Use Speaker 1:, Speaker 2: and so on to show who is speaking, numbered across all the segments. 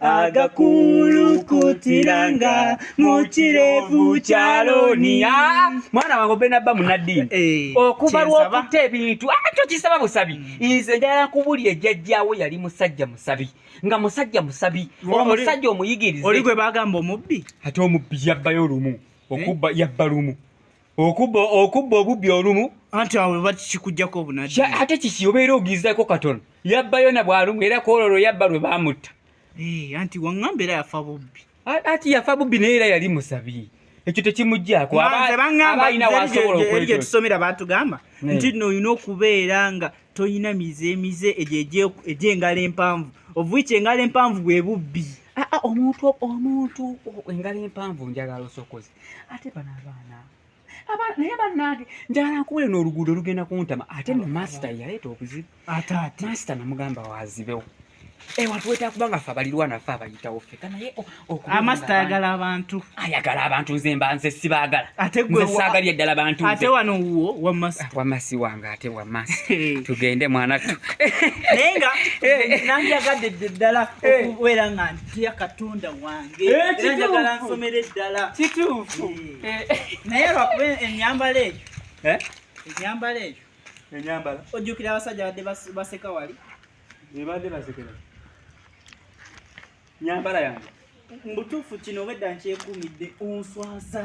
Speaker 1: agakulukutiranga mu kirevu kya loniya mwana wange obena bba munaddiini eh, okuva lw'okutta ebintu akyo ah, kisaba busabi mm. nze njala kubuli ejjajjaawo yali musajja musabi nga musajja musabi omusajja omuyigirize oli gwe bagamba omubbi
Speaker 2: ate omubbi yabbayo
Speaker 1: lumu okubba eh? yabba lumu okubba okubba obubbi olumu anti awo bwe
Speaker 2: bakikujjako obunaddi ate kiki obeera
Speaker 1: ogizaako katono yabba yona bw'alumu era kwololo yabba lwe baamutta eh, anti
Speaker 2: waŋŋamba era yafa bubbi ati yafa bubbi
Speaker 1: naye era yali musabi ekyo tekimuggyako abainawasobolaekyetusomera
Speaker 2: batugamba eh. nti no olina okubeera nga tolina mize emize egyengalo empanvu ovuiki engalo empanvu bwe bubbi ah, ah, omuntu
Speaker 1: omuntu engalo empanvu njagala osokoze ate bano abaana naye banange njagala nkuwule n'oluguudo olugenda kuntama ate no masita yaleeta obuzibu masita
Speaker 2: namugamba
Speaker 1: wazibewo ewantu eh, wetera kuba nga fe abalirwa nafe abayitawo feka naye amasita ayagala
Speaker 2: abantu ayagala abantu nze mba nze sibaagala
Speaker 1: nze saagalya
Speaker 2: eddala bantu
Speaker 1: ate wano wuwo
Speaker 2: wamasita ah, wamasi wange
Speaker 1: ate wamasi tugende mwana tu naye nga
Speaker 2: eh. nanjagadde ddala eh. okubeera nga tya katonda wange eh, era njagala nsomere eddala kituufu
Speaker 1: eh. Eh. naye
Speaker 2: lwakuba enyambala eyo enyambala eyo enyambala ojjukira abasajja badde baseka wali ebadde
Speaker 1: basekera nyambala yange mubutuufu kino
Speaker 2: obwedda nkyekuumidde onswaza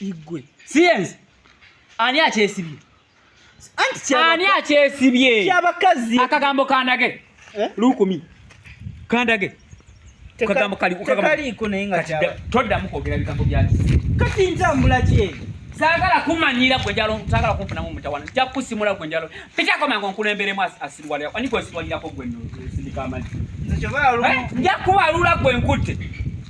Speaker 1: igwe
Speaker 2: siyenze
Speaker 1: ani akyesibye ani akyesibye kyabakazi
Speaker 2: akagambo kandage
Speaker 1: eh? lukumi kandage kagambo kali
Speaker 2: kaliiko naye nga toddamu kwogera
Speaker 1: bigambo byaki kati ntambula
Speaker 2: kyeyo sagala
Speaker 1: kumanyira gwe njalo sagala kumfuna mu mutawana nja kusimula gwe njalo pitako mango nkulemberemu asirwale ani gwe sirwalirako gwe no sindika amali nja kubalula gwe nkutte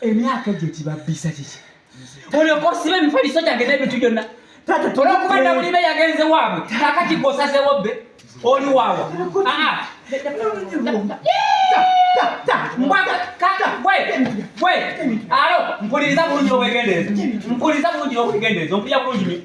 Speaker 1: emyaka egyo gibabbisa kiki olyoka osiba emifaliso gyange n'ebintu byonna olwokuba nabulibe yagenze waabwe kakati gwosazewo bbe oli waawa alo mpuliriza bulungi obwegenderezo mpuliriza bulungi n'obwegenderezo mpulira bulungi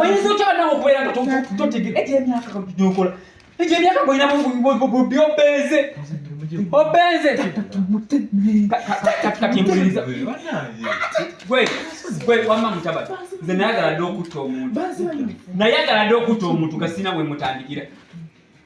Speaker 1: oyinza otya banawe okubeera nga totegera egyo emyaka gyokola egyo emyaka golina byobenze obenze katimpuliriza gwe wamma mutabani nze nayagala dde okutta omuntu nayagala dde okutta omuntu gasina wemutandikira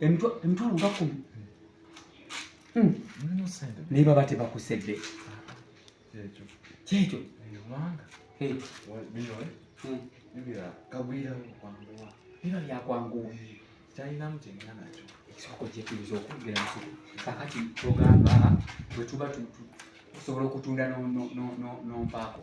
Speaker 1: emitwalo nga kumi hmm. naye baba tebakusedde kyekyo biba byakwanguwa kyalinamu kyengana nakyo ekisoko kyetuyinza okwogera nsi kakati togamba bwetuba osobola okutunda nompaako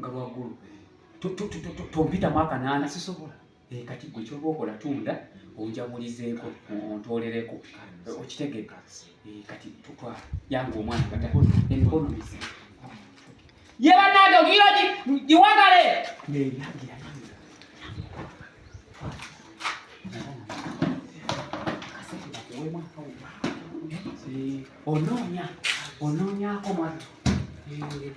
Speaker 1: nga lwagulu tompita mwaka naana sisobola eh, kati gwe kyoba okola tunda onjabulizeeko ontolereko okitegeka eh, kati tutwa yange omwana kata emikono mizi ye banange ogira giwagale neyagira onoonya onoonyako mwattu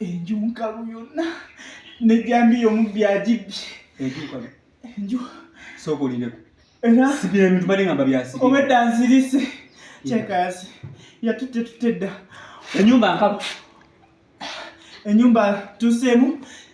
Speaker 2: enju nkalu yonna nejjambi yomu byagibbye enju nkalu enju sokulindeko
Speaker 1: era sibira ebintu bali ngamba byasibye obedda nzirise
Speaker 2: kyekaasi yatutte tutte dda enyumba nkalu
Speaker 1: enyumba
Speaker 2: tuseemu